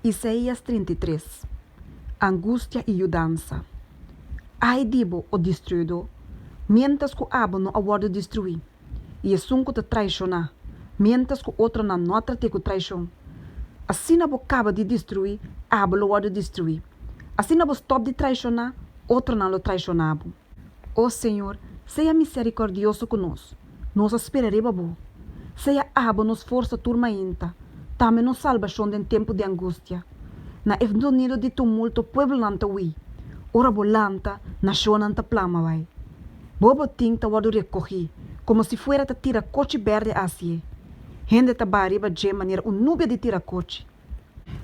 Isaias trinta i tres, Angustia i yudansa. Ai di bo, o distruidó, miéntras ku abo no a wòrdu distruí, i esun ku ta traishoná, miéntras ku otronan no a trat'é ku traishon. Asina bo kaba di distruí, abo lo wòrdu distruí. Asina bo stòp di traishoná, otronan lo traishoná bo. O Señor, sea misericordioso cu nos, nos a spera riba Bo. Sea abo nos forsa tur mainta, tambe nos salbacion den tempu di angustia. Na e sonido di tumulto pueblonan ta hui, ora Bo lanta, nacionnan ta plama bai. Bo botin ta wordo recogi, como si fuera ta tiracochi berde asie. Hende ta baha riba dje manera un nubia di tiracochi.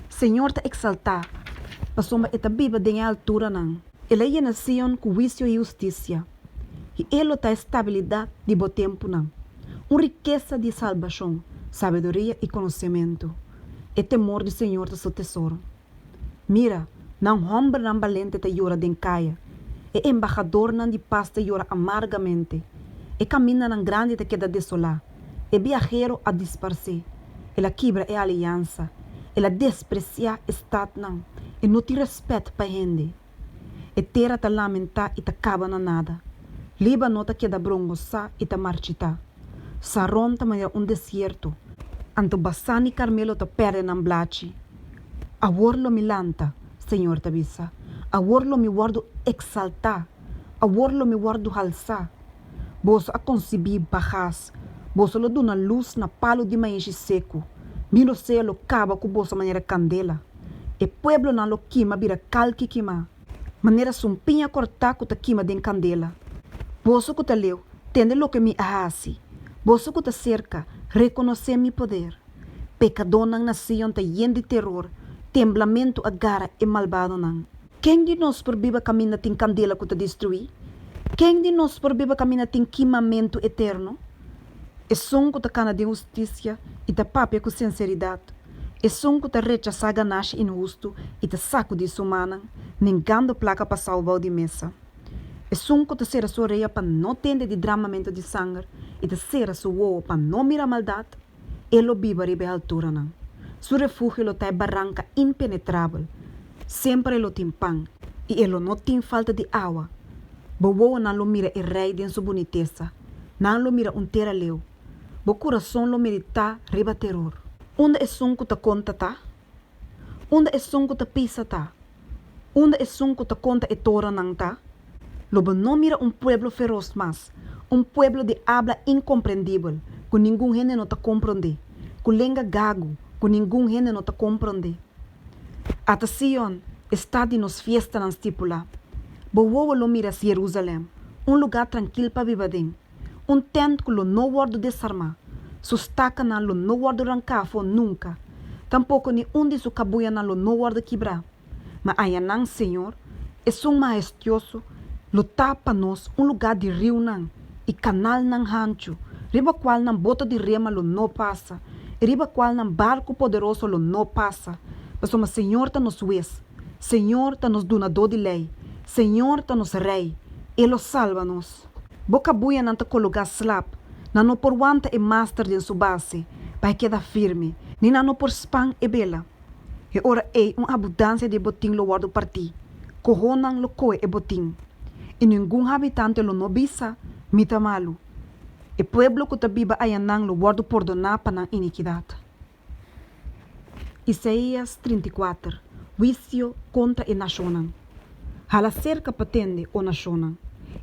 Señor ta exaltá, pasobra e ta biba den e alturanan. El a yena Sion ku huisio i hustisia, i e lo ta e stabilidat di bo tempunan. Un rikesa di salbashon, sabiduria i konosementu, e temor di Señor ta su tesoro. Mira, nan hòmbernan balente ta yora den kaya, e embahadornan di pas ta yora amargamente, e kamindanan grandi ta keda desolá. E biahero a disparsé, el a kibra e aliansa, el a despresiá e stadnan, e no tin rèspèt pa hende. E tera ta lamentá i ta kaba na nada, Líbano ta keda brongosá i ta marchitá, Saron ta manera un desierto. Anto Basán i Karmelo ta pèrdè nan blachi. Awor lo mi lanta, señor ta bisa, awor lo mi wòrdu eksaltá, awor lo mi wòrdu halsá, Boso a konsibí bagas, boso lo duna lus na palu di maishi seku, mi lo sea lo kaba ku boso manera kandela. E pueblonan lo kima bira kal ki kimá, manera sun piña kortá ku ta kima den kandela. Boso ku ta leu, tende loke mi a hasi, boso ku ta serka, rekonosé mi poder. Pekadónan na Sion ta yen di teror, temblamentu a gara e malbadonan. Ken di nos por biba kaminda tin kandela ku ta destruí? Ken di nos por biba kaminda tin kimamentu eterno? Esun ku ta kana den hustisia i ta papia ku sinseridat, esun ku ta rechasá ganasha inhustu i ta sakudí su manan, ningando plaka pa sau bou di mesa. Esun ku ta sera su orea pa no tende di dramamentu di sanger i ta sera su wowo pa no mira maldat, E lo biba riba e alturanan. Su refugio lo ta e baranka impenetrabel. Semper e lo tin pan i e lo no tin falta di awa. Bo wowonan lo mira e Rei den su bunitesa. Nan lo mira un tera leu. Bo kurason lo meditá riba teror. Unda esun ku ta konta ta? Unda esun ku ta pisa ta? Unda esun ku ta konta e toronan ta, lo bo no mira un pueblo feros mas, un pueblo di abla inkomprendibel, ku ningun hende no ta komprondé, ku lenga gagu, ku ningun hende no ta komprondé. Ata Sion, e stat di nos fiestanan stipulá. Bo wowo lo mira si Herúsalèm, un lugá trankil pa biba den, Un tènt ku lo no wòrdu desarmá, su stakanan lo no wòrdu ranká afó nunka, tampoko ni un di su kabuyanan lo no wòrdu kibrá. Ma ayanan, Señor, esun mahestioso lo ta pa nos un lugá di riunan i kanalnan hanchu, riba kualnan boto di rema lo no pasa i riba kualnan barku poderoso lo no pasa, pasobra Señor ta nos Wes, Señor ta nos Dunadó di lei, Señor ta nos Rei, e lo salba nos. Boka buyanan ta kologá slap, nan no por wanta e master den su base pa e keda firme, ni nan no por span e bela. E ora ei un abudansia di e botin lo wòrdu partí, kohonan lo kohe e botin, i ningun habitante lo no bisa, Mi ta malu. E pueblo ku ta biba ayanan lo wòrdu pordoná pa nan inikidat. Isaías trinta i kuater Huisio kontra e nashonnan Hala serka pa tende, o nashonnan,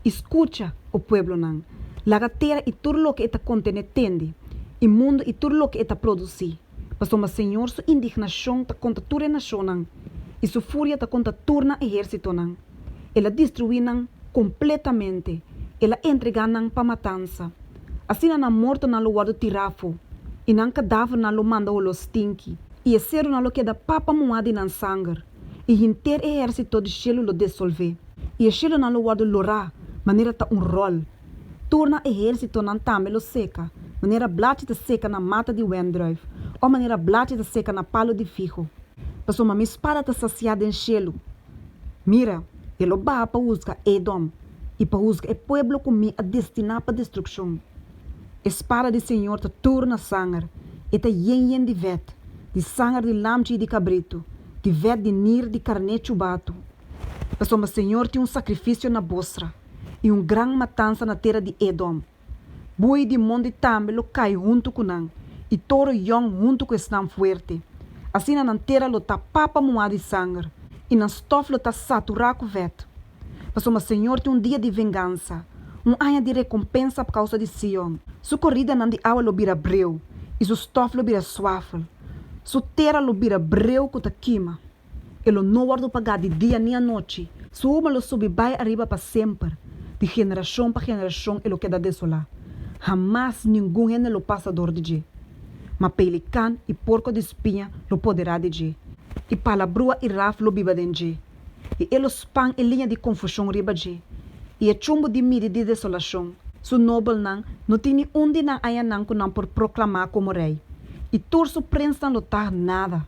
i skucha, o pueblonan, laga tera i tur loke e ta kontené tende, i mundu i tur loke e ta produsí, pasobra Señor su indignashon ta kontra tur e nashonnan, i su furia ta kontra tur nan ehérsitonan. El a destruí nan kompletamente, el a entregá nan pa matansa. Asina nan mortonan lo wòrdu tirá afó, i nan kadavernan lo manda oló stinki, i e serunan lo keda papa muhá di nan sanger, i henter e ehérsito di shelu lo desolvé, i e shelunan lo wòrdu lorá manera ta un ròl, tur nan ehérsitonan tambe lo seka, manera blachi ta seka na mata di wèndrùif, òf manera blachi ta seka na palu di figo. Pasobra mi spada ta sasiá den shelu. Mira, e lo baha pa husga Edom, i pa husga e pueblo ku mi a destiná pa destrukshon. E spada di señor ta tur na sanger, e ta yen yen di vèt, di sanger di lamchi i di kabritu, di vèt di nir di karné tshubatu. Pasobra señor tin un sakrifisio na Bosra, i un gran matansa na tera di Edom. Bui di mondi tambe lo kai huntu ku nan, i toro yòn huntu ku esnan fuerte. Asina nan tera lo ta papa muhá di sanger, i nan stòf lo ta saturá ku vèt. Pasobra Señor tin un dia di vengansa, un aña di rekompensa pa kousa di Sion. Su koridanan di awa lo bira breu, i su stòf lo bira suafel. Su tera lo bira breu ku ta kima. E lo no wòrdu pagá di dia ni anochi, su huma lo subi bai ariba pa semper, di generashon pa generashon e lo keda desolá, hamas ningun hende lo pasa dor di dje, ma pelikan i porko di spiña lo poderá di dje, i palabrua i raf lo biba den dje, i e lo span e liña di konfushon riba dje, i e chumbu di midi di desolashon. Su nobelnan no tin ni un di nan añanan ku nan por proklamá komo rei, i tur su prensnan lo tah nada.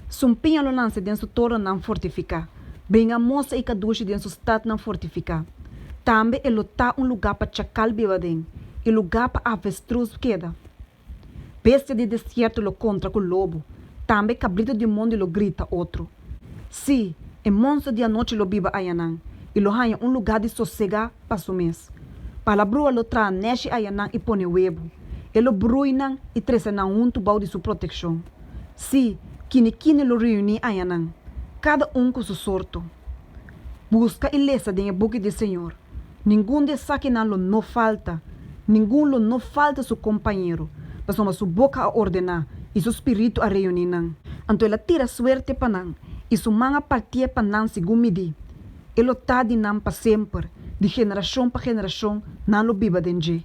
Sun piña lo lansa den su toronnan fortifiká, bringa mosa i kadushi den su statnan fortifiká. Tambe e lo ta un lugá pa chakal biba den, i lugá pa avestrus keda. Bestia di desierto lo kontra ku lobu, tambe kabritu di mondi lo grita otro. Sí, e monster di anochi lo biba ayanan, i lo haña un lugá di sosegá pa su mes. Palabrua lo traha neshi ayanan i pone webu, e lo brui nan i trese nan huntu bou di su protekshon. Sí, kine kine lo reuní ayanan, kada un ku su sorto. Buska i lesa den e buki di Señor. Ningun di esakinan lo no falta, ningun lo no falta su kompañero, pasobra su boka a ordená i su spiritu a reuní nan. Anto el a tira suerte pa nan, i su man a partié pa nan segun midí. E lo ta di nan pa semper, di generashon pa generashon nan lo biba den dje.